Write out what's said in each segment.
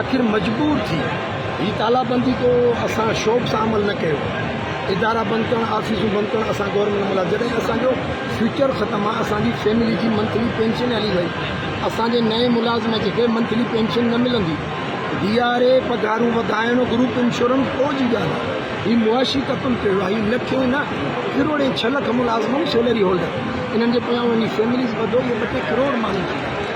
آخر مجبور ٿي هي تالابندي ڪو اسان شوق سان عمل نه ڪيو ادارا بند ڪرڻ آفيسون بند ڪرڻ اسان گورنمينٽ ملازم جڏهن اسان جو فيوچر ختم آ اسان جي فيملي جي منٿلي پينشن هلي وئي اسان جي نئين ملازم کي به منٿلي پينشن نه ملندي ڊي آر اي پگهارون وڌائڻ گروپ انشورنس ڪو جي ڳالهه آ هي معاشي قتل ٿيو آ هي نه ٿئي نه ڪروڙين ڇهه لک ملازم سيلري هولڊر انهن جي پويان وڃي فيمليز ٻڌو اهي ٻه ٽي ڪروڙ ماڻهو ٿي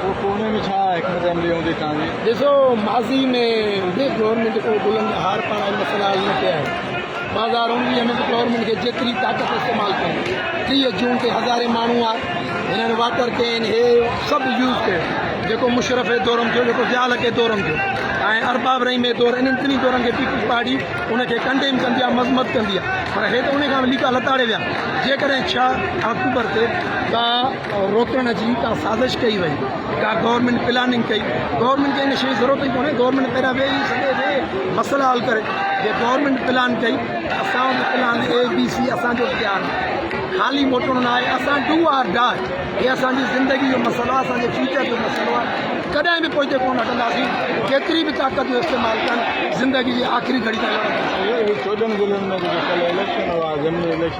پوء ڪوهني ۾ ڇا حڪمت عملي هوندي تنهنجي؟ ڏسو ماضي ۾ به گورنمينٽ ڪو بلند هار پاڻ ۽ مسئلا حل نه ڪيا آهن، ٻه هزار اڻويهه ۾ به گورنمينٽ کي جيتري طاقت استعمال ڪري ٽيهه جون تي هزارين ماڻهو آء هنن واٽر ڪين هي سڀ يوز ڪيو جيڪو مشرف هي دورم ٿيو جيڪو ضياء الحق هي دورم ٿيو ۽ ارباب رحيم هي دور انهن ٽنهي دورن کي پيپلز پارٽي ان کي ڪنڊيم ڪندي آ مذمت ڪندي آ پر هي ته ان کان به ليڪا لتاڙي ويا جيڪڏهن ڇهه آڪٽوبر تي ڪا روڪڻ جي ڪا سازش ڪئي وئي ڪا گورنمينٽ پلاننگ ڪئي گورنمينٽ کي ان شي جي ضرورت ئي ڪونهي گورنمينٽ پهريان ويهي سڄي ويهي مسئلا حل ڪري جي گورنمينٽ پلان ڪئي اسان وٽ پلان اي بي سي اسان جو اختيار خالي موٽڻو نه آهي اسان ڊو آر ڊاء هي اسان جي زندگي جو مسئلو آهي اسان جي فيوچر جو مسئلو آهي ڪڏهن به پوئتي ڪونه هٽنداسين ڪيتري به طاقت جو استعمال ڪن زندگي جي آخري گهڙي تائين لڙنداسين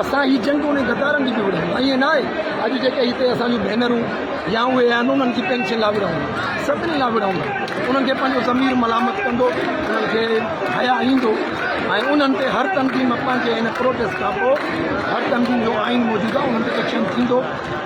اسان هي جنگ انهن غدارن جي به وڙهيون ائين نه آهي اڄ جيڪي هتي اسان جون ڀينرون يا اهي آهن انهن جي پينشن لا وڙهون سڀني لا وڙهون انهن کي پنهنجو ضمير ملامت ڪندو انهن کي حيا ايندو ۽ انهن تي هر تنظيم پنهنجي هن پروٽيسٽ کان پوء هر تنظيم جو آئين موجوده انهن تي ايڪشن ٿيندو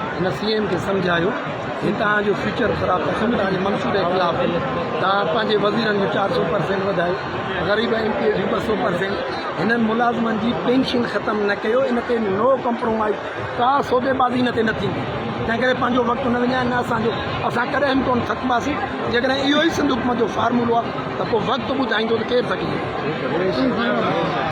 هن سي ايم کي سمجهايو هي توهان جو فيوچر خراب ڪندو توهان جي منصوبي خلاف آهي توهان پنهنجي وزيرن جو چار سو پرسينٽ وڌايو غريب ايم پي اي جون ٻه سو پرسينٽ هنن ملازمن جي پينشن ختم نه ڪيو ان تي نو ڪمپرومائز ڪا سودي بازي هن تي نه ٿيندي تنهن ڪري پنهنجو وقت نه وڃائي نه اسان جو اسان ڪڏهن به ڪون ٿڪباسين جيڪڏهن اهو ئي سنڌ حڪومت جو فارمولو آهي ته پوء وقت ٻڌائيندو ته ڪير ٿڪجي